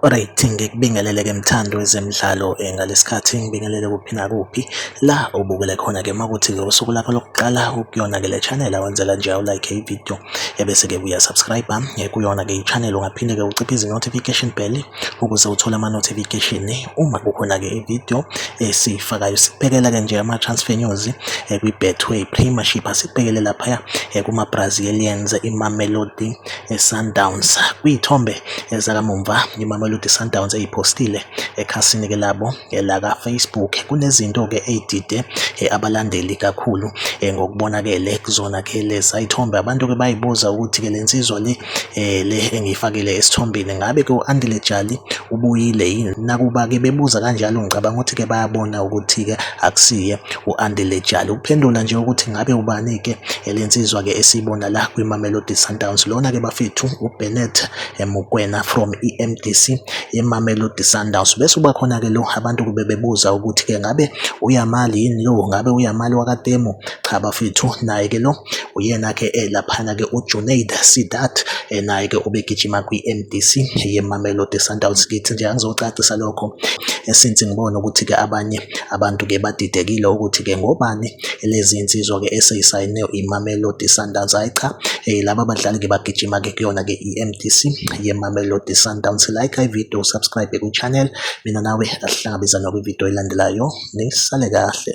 Alright, ngikubingelele-ke mthando wezemidlalo eh, ngalesikhathi ngibingelele kuphi nakuphi la ubukele khona-ke makuthi-ke usuku lakho lokuqala ukuyona-ke le channel awenzela nje awulike ividiyo ebese-ke uyasubscribe-a eh, kuyona-ke i-channel ungaphinde-ke uciphe izi-notification bell ukuze uthole ama-notification eh, uma kukhona-ke ividiyo esiyifakayo sikubhekela-ke nje ama-transfer news kwi-betway premiership asikubhekele laphaya kuma-brazilians imamelodi iSundowns. Kwiy'thombe zakamumva iMamelodi Sundowns eyiphostile ekhasini-ke labo laka-Facebook. Kunezinto-ke ey'dide eh, abalandeli kakhulu eh, ngokubonakele kuzona-ke leza y'thombe. Abantu-ke bayibuza ukuthi-ke le nsizwa le eh, le engiyifakile esithombeni ngabe-ke u-Andile Jali ubuyile yini? Nakuba-ke bebuza kanjalo ngicabanga ukuthi-ke bayabona ukuthi-ke akusiye U-Andile Jali uphendula nje ukuthi ngabe ubani-ke elensizwa-ke esiyibona la kwiMamelodi Sundowns. Lona-ke bafethu uBennett Mokwena from i-MDC yeMamelodi Sundowns. Bese uba khona-ke lo abantu kube bebuza ukuthi-ke ngabe uyamali yini lo, ngabe uyamali wakatemu? Cha bafethu, naye-ke lo uyena-ke eh, laphana-ke uJunaid Sidat eh, naye-ke ubegijima kwi-MDC yeMamelodi Sundowns. Ngithi nje angizocacisa lokho eh, since ngibona ukuthi-ke abanye Abantu-ke badidekile ukuthi-ke ngobani lezi nsizwa-ke eseyisayine iMamelodi Sundowns. Hhayi cha, eh, laba badlali-ke bagijima-ke kuyona-ke i-M_D_C yeMamelodi Sundowns. Like ividiyo, subscribe kwi-channel. Mina nawe asihlangabezane kwividiyo elandelayo. Nisale kahle.